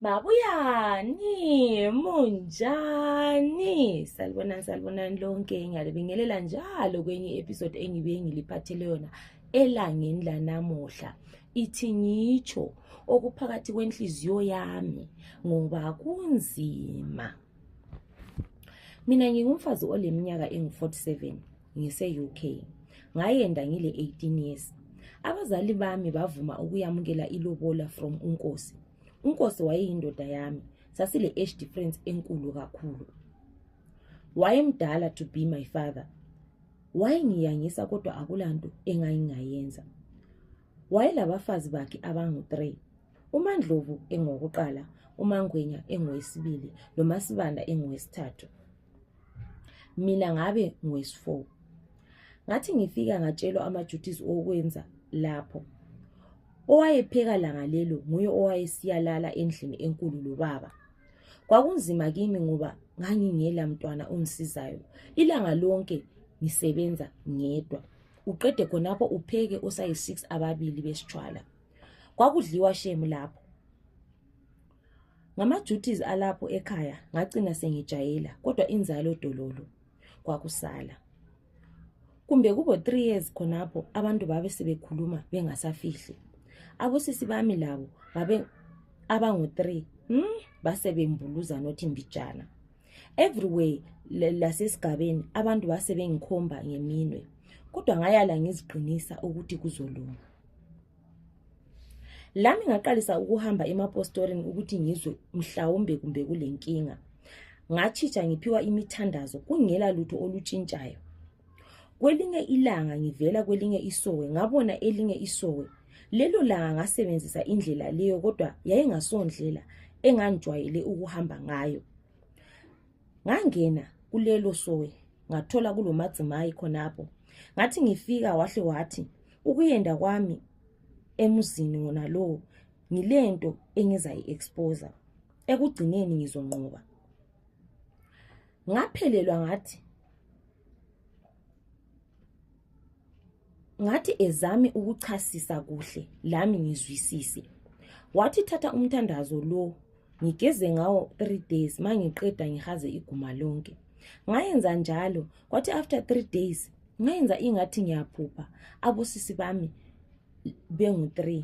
Mabuyani, munjani? Salibonani, salibonani lonke. Ngiyalibingelela njalo kwenye episode engibuye ngiliphathele yona elangeni lanamuhla. Ithi ngitsho okuphakathi kwenhliziyo yami ngoba kunzima. Mina ngingumfazi oleminyaka engu-47. ngise-UK. Ngayenda ngile 18 years. Abazali bami bavuma ukuyamukela ilobola from uNkosi. UNkosi wayeyindoda yami. Sasile age difference enkulu kakhulu. Wayemdala to be my father. Wayengiyangisa kodwa akulanto engayingayenza. Wayelabafazi bakhe abangu-3. UMandlovu engokuqala, uMangwenya engowesibili, noMasibanda engowesithathu. mina ngabe ngwesifour ngathi ngifika ngatshelwa amaduties okwenza lapho owayepheka langa lelo nguye owayesiyalala endlini enkulu lobaba kwakunzima kimi ngoba ngangingela mntwana ongisizayo ilanga lonke ngisebenza ngedwa uqede khonapho upheke osayi-six ababili besitshwala kwakudliwa shemu lapho Ngama-duties alapho ekhaya ngacina sengijayela kodwa inzalo dololo kwakusala. Kumbe kubo three years khonapho abantu babe sebekhuluma bengasafihli. Abosisi bami labo babe abangu-three hmm? basebembuluza nothi mbijana. Everywhere lasesigabeni abantu base bengikhomba ngeminwe kodwa ngayala ngiziqinisa ukuthi kuzolunga. lami ngaqalisa ukuhamba emapostorini ukuthi ngizwe mhlawumbe kumbe kulenkinga ngatshitsha ngiphiwa imithandazo kungela lutho olutshintshayo kwelinye ilanga ngivela kwelinye isowe ngabona elinye isowe lelo langa ngasebenzisa indlela leyo kodwa yayingasondlela engangijwayele ukuhamba ngayo ngangena kulelo sowe ngathola kulomadzimayi khonapho ngathi ngifika wahle wathi ukuyenda kwami emuzini wona lowo ngilento engizayi-exposa ekugcineni ngizonqoba ngaphelelwa ngathi ngathi ezami ukuchasisa kuhle lami ngizwisise wathi thatha umthandazo lo ngigeze ngawo 3 days mangiqeda ngihaze iguma lonke ngayenza njalo kwathi after 3 days ngayenza ingathi ngiyaphupha abosisi bami bengu 3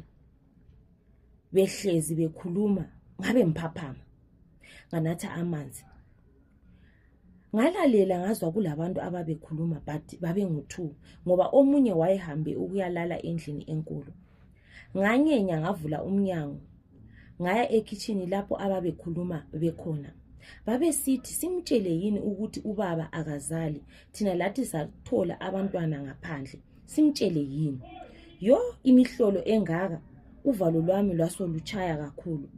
behlezi bekhuluma ngabe ngiphaphama nganatha amanzi ngalalela ngazwa kulabantu ababekhuluma but babengu-two ngoba omunye wayehambe ukuyalala endlini enkulu nganyenya ngavula umnyango ngaya ekhitshini lapho ababekhuluma bekhona babesithi simtshele yini ukuthi ubaba akazali thina lathi sathola abantwana ngaphandle simtshele yini yo imihlolo engaka uvalo lwami lwasolutshaya kakhulu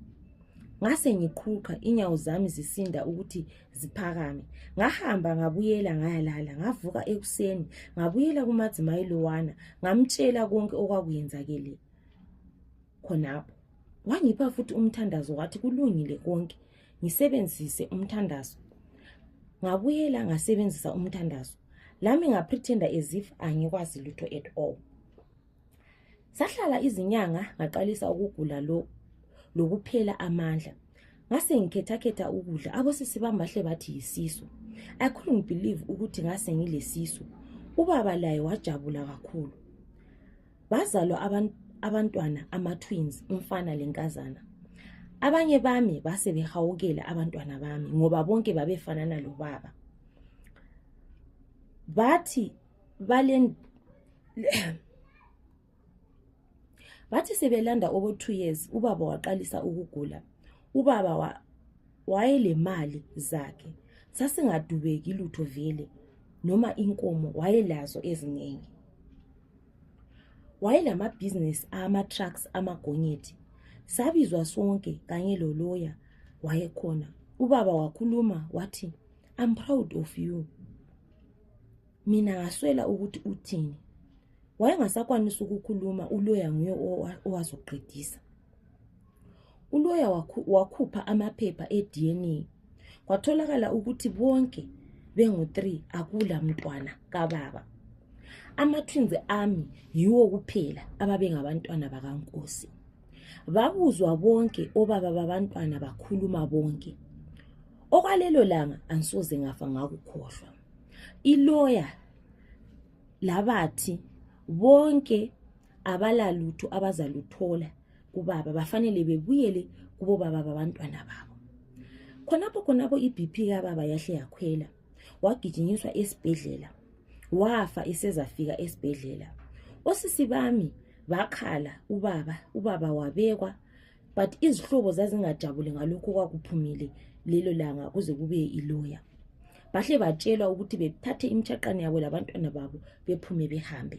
ngase ngiqhuqha inyawo zami zisinda ukuthi ziphakame ngahamba ngabuyela ngayalala ngavuka ekuseni ngabuyela kumadzimayi lowana ngamtshela konke okwakuyenzakele khonapho wangipha futhi umthandazo wathi kulungile konke ngisebenzise umthandazo ngabuyela ngasebenzisa umthandazo lami ngaprethenda as if angikwazi lutho at all sahlala izinyanga ngaqalisa ukugula lo lokuphela amandla ngase ngikhetakhetha ukudla abosisi bami bahle bathi yisisu i couldn't believe ukuthi ngase ngilesisu ubaba laye wajabula kakhulu bazalwa abantu abantwana ama-twins umfana lenkazana abanye bami base behawukela abantwana bami ngoba bonke babefanana lobaba bathi Balen Bathi sebelanda obo 2 years ubaba waqalisa ukugula. Ubaba wa wayelemali zakhe. Sasingadubeki lutho vele noma inkomo wayelazo eziningi. Wayelama business ama trucks amagonyethi. Sabizwa sonke kanye lo lawyer wayekhona. Ubaba wakhuluma wathi I'm proud of you. mina ngaswela ukuthi uthini wayengasakwanisa ukukhuluma uloya nguye owazoqedisa uloya wakhupha amaphepha e-dna kwatholakala ukuthi bonke bengu-three akula mntwana kababa ama-twins ami yiwo kuphela ababengabantwana bakankosi babuzwa bonke obaba babantwana bakhuluma bonke okwalelo langa angisoze ngafa ngakukhohlwa iloya labathi bonke abalalutho abazaluthola kubaba bafanele bebuyele kubobaba babantwana babo khonapho khonapho ibp kababa yahle yakhwela wagijinyiswa esibhedlela wafa esezafika esibhedlela osisi bami bakhala ubaba ubaba wabekwa but izihlobo zazingajabuli ngalokho kwakuphumile lelo langa kuze kubuye iloya bahle batshelwa ukuthi bethathe imtshaqane yabo labantwana babo bephume behambe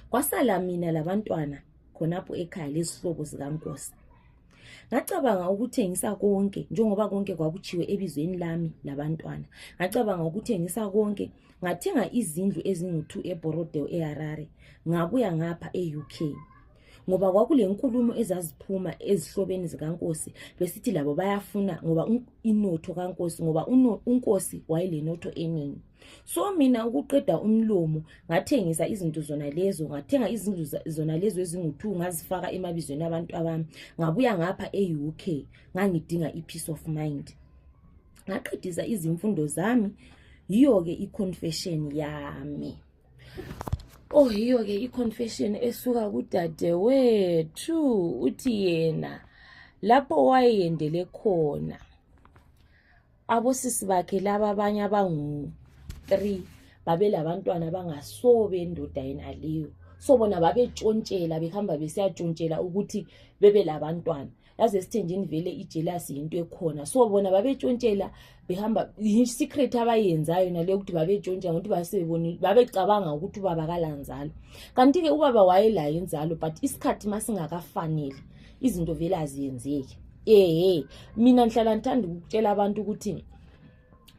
kwasala mina labantwana khonapho ekhaya lezihlobo zikankosi ngacabanga ukuthengisa konke njengoba konke kwakutshiwe ebizweni lami labantwana ngacabanga ukuthengisa konke ngathenga izindlu ezingu-two eborodeo eharare ngabuya ngapha e-uk ngoba kwakulenkulumo ezaziphuma ezihlobeni zikankosi besithi labo bayafuna ngoba inotho kankosi ngoba unkosi wayelenotho eningi so mina ukuqeda umlomo ngathengisa izinto zona lezo ngathenga izindlu zona lezo ezingu-two ngazifaka emabizweni abantu abami ngabuya ngapha e-u k ngangidinga i-peace of mind ngaqedisa izimfundo zami yiyo-ke i-confession yami Oh yiyo ke iconfession esuka kudadewethu uthi yena lapho wayendele khona abosisi bakhe laba abanye abangu-three babelabantwana bangaso bendoda yenaleyo so bona babetshontshela behamba besiyatshontshela ukuthi bebe labantwana yazi esithenjini vele ijelasi yinto ekhona so bona babetshontshela behamba yisecret abayenzayo naleyo ukuthi babetshontsha ngokuthi basebebonile babecabanga ukuthi ubaba kalanzalo kanti-ke ubaba wayelayo inzalo but isikhathi uma singakafanele izinto vele aziyenzeki ehe mina ngihlala ngithanda ukutshela abantu ukuthi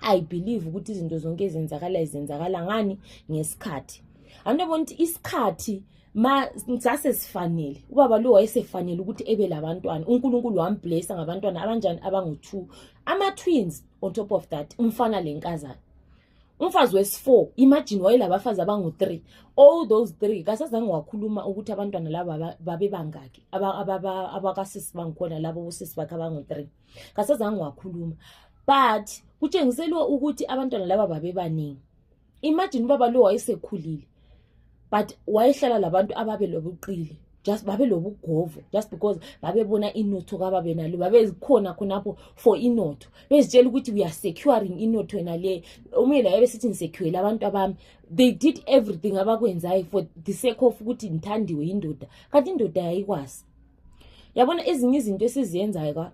i believe ukuthi izinto zonke ezenzakalayo zenzakala ngani ngesikhathi anto ebona ukuthi isikhathi ma sasesifanele ubaba lo wayesefanele ukuthi ebe labantwana unkulunkulu wamblesa ngabantwana abanjani abangu-two ama-twins on top of that umfana lenkazana umfazi wesi-four imagine wayelabafazi abangu-three all those three kasazange wakhuluma ukuthi abantwana laba babebangaki abakasisi bangikhona labo bosisi bakhe abangu-three kasazange wakhuluma but kutshengiselwe ukuthi abantwana laba babebaningi imagine ubaba lo wayesekhulile but wayehlala labantu ababe lobuqili just babe lobugovu just because babebona inotho kababe nalo babezikhona khonapho for inotho bezitshela ukuthi we are securing inotho yena le omunye laye besithi ngisecurile abantu abami they did everything abakwenzayo for the sake of ukuthi ngithandiwe yindoda kanti indoda yayikwazi yabona ezinye izinto esiziyenzayo ka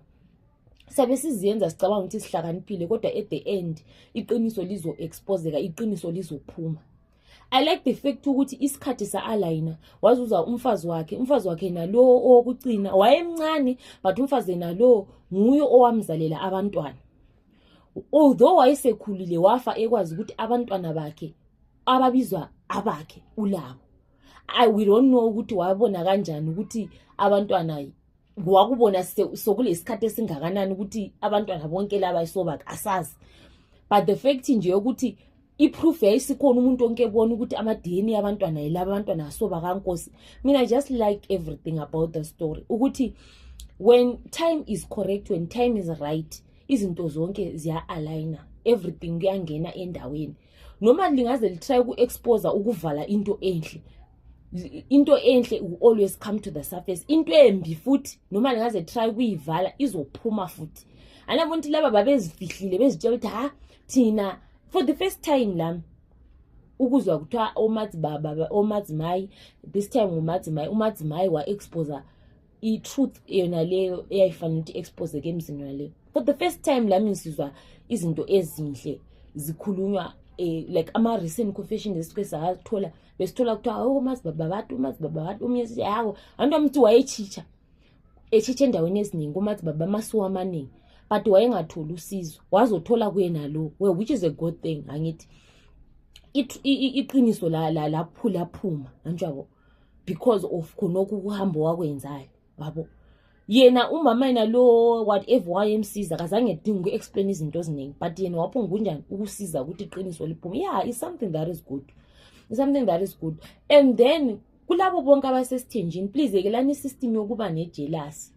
sabe siziyenza sicabanga ukuthi sihlakaniphile kodwa at the end iqiniso lizo-expozeka iqiniso lizophuma i like the fact ukuthi isikhathi sa-alayina wazuza umfazi wakhe umfazi wakhe nalowo owokucina wayemncane but umfazi nalowo nguye owamzalela abantwana although wayesekhulile wafa ekwazi ukuthi abantwana bakhe ababizwa abakhe ulabo i we don't know ukuthi wabona kanjani ukuthi abantwana wakubona sokulesikhathi esingakanani ukuthi abantwana bonke laba isobaka asazi but the fact nje yokuthi iproof yayisikhona umuntu onke ebona ukuthi amadini abantwana yilaba abantwana asoba kankosi mina i just like everything about the story ukuthi when time is correct when time is right izinto zonke ziya-aligner everything kuyangena endaweni noma lingaze litry uku-exposa ukuvala into enhle into enhle always come to the surface into embi futhi noma lingaze try ukuyivala izophuma futhi anabona ukuthi laba babezifihlile bezitshela ukuthi ha thina for the first time lami ukuzwa kuthiwa omadzimayi this time umadzimayi umadzimayi wa-exposa i-truth yona leyo eyayifanele ukuthi i-exposeke emzini yona leyo for the first time lami ngisizwa izinto ezinhle zikhulunywa um like ama-recent confession esike sathola besithola kuthiwa awo mazibaba abantu umazibaba abantu omunye sithi hawo anto amthi wayetshitsha etshitsha endaweni eziningi kumazibaba amasuwa amaningi but wayengatholi usizo wazothola kuyena lo we which is a good thing angithi iqiniso laphulaphuma la, la, anjabo because of khonokho ukuhambo wakwenzayo babo yena umama yena lo whatever wayemsiza kazange dinga uku-explain izinto eziningi but yena waphungunjani ukusiza ukuthi iqiniso liphume ya yeah, is something that is good is something that is good and then kulabo bonke abasesithenjini please yekelani isystem yokuba nejelasi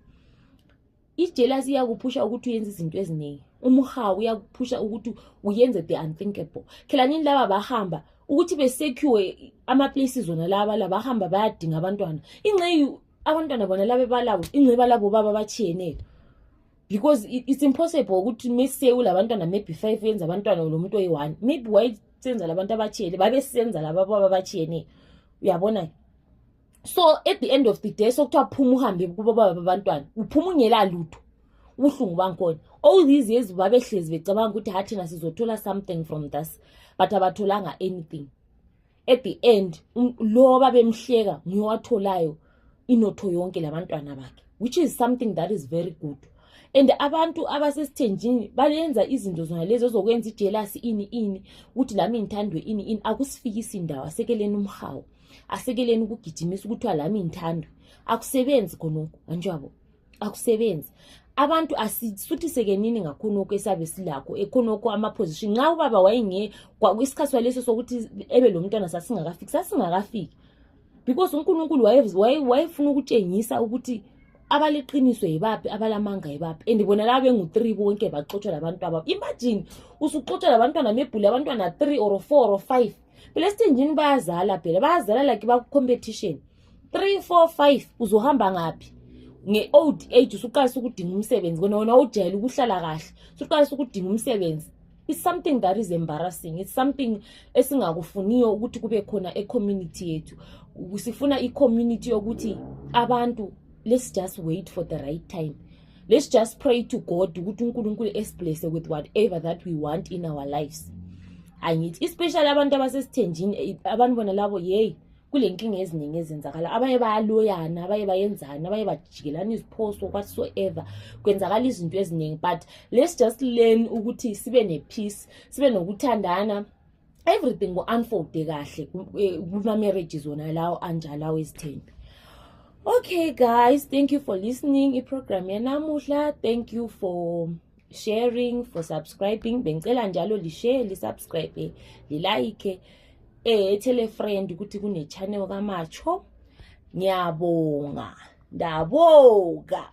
ijealous iyakuphusha ukuthi uyenze izinto eziningi umhawu uyakuphusha ukuthi uyenze the unthinkable khelanini laba bahamba ukuthi besekiwe amaplaces wona laba labahamba bayadinga abantwana ingceyi abantwana bona labe balabo ingceyi balabo baba batshiyeneyo because it's impossible ukuthi mesewu labantwana maybe five yenza abantwana lo muntu oyi-one maybe wayesenza labantu abatshiyene babesenza laba baba abatshiyeneyo uyabona-ke so at the end of the day sokuthiwa phuma uhambe kubobaba babantwana uphuma ungela lutho ubuhlungu bangikhona all these years babehlezi becabanga ukuthi ha thina sizothola something from this but abatholanga anything at the end um, loba bemhleka ngiyowatholayo inotho yonke labantwana bakhe which is something that is very good and abantu abasesithenjini balenza izinto zona lezi ozokwenza ijelasi ini ini ukuthi lami ngithandwe ini ini akusifikisi ndawo asekeleni umhawu asekeleni ukugijimisa ukuthiwa lami ngithanda akusebenzi khonokho anjwabo akusebenzi abantu asisuthisekenini ngakhonokho esabe silakho ekhonokho amaposition nxa ubaba wayenge isikhathi waleso sokuthi ebe lo mntwana sasingakafiki sasingakafiki because unkulunkulu wayefuna ukutshengisa ukuthi abaliqiniso yibaphi abalamanga yibaphi and bona laba bengu-three bonke baxotshwa labantu ababo imagine usuxotshwa labantwana mebhule abantwana three or four or five belesithenjini bayazala phela bayazala like baku-competition three four five uzohamba ngaphi nge-old age usuqalisa ukudinga umsebenzi kona wena ujayele ukuhlala kahle usuqalisa ukudinga umsebenzi it's something that is embarrassing it's something esingakufuniyo ukuthi kube khona ecommunity yethu sifuna icommunity yokuthi abantu let's just wait for the right time let's just pray to god ukuthi unkulunkulu esiblesse with whatever that we want in our lives angithi especially abantu abasesithenjini eh, abantu bona labo yeyi kule nkinga eziningi ezenzakala abanye bayaloyana abanye bayenzani abanye bajikelana iziphoso whatsoever kwenzakala izinto eziningi but let's just learn ukuthi sibe ne-peace sibe nokuthandana everything ngo unfold kahle eh, kuma marriages wona lawo anjalo awezithembi okay guys thank you for listening iprogram yanamuhla thank you for sharing for subscribing bengicela njalo lishare lisubscribe lilike eh tell a friend ukuthi kune channel kamacho ngiyabonga ndabonga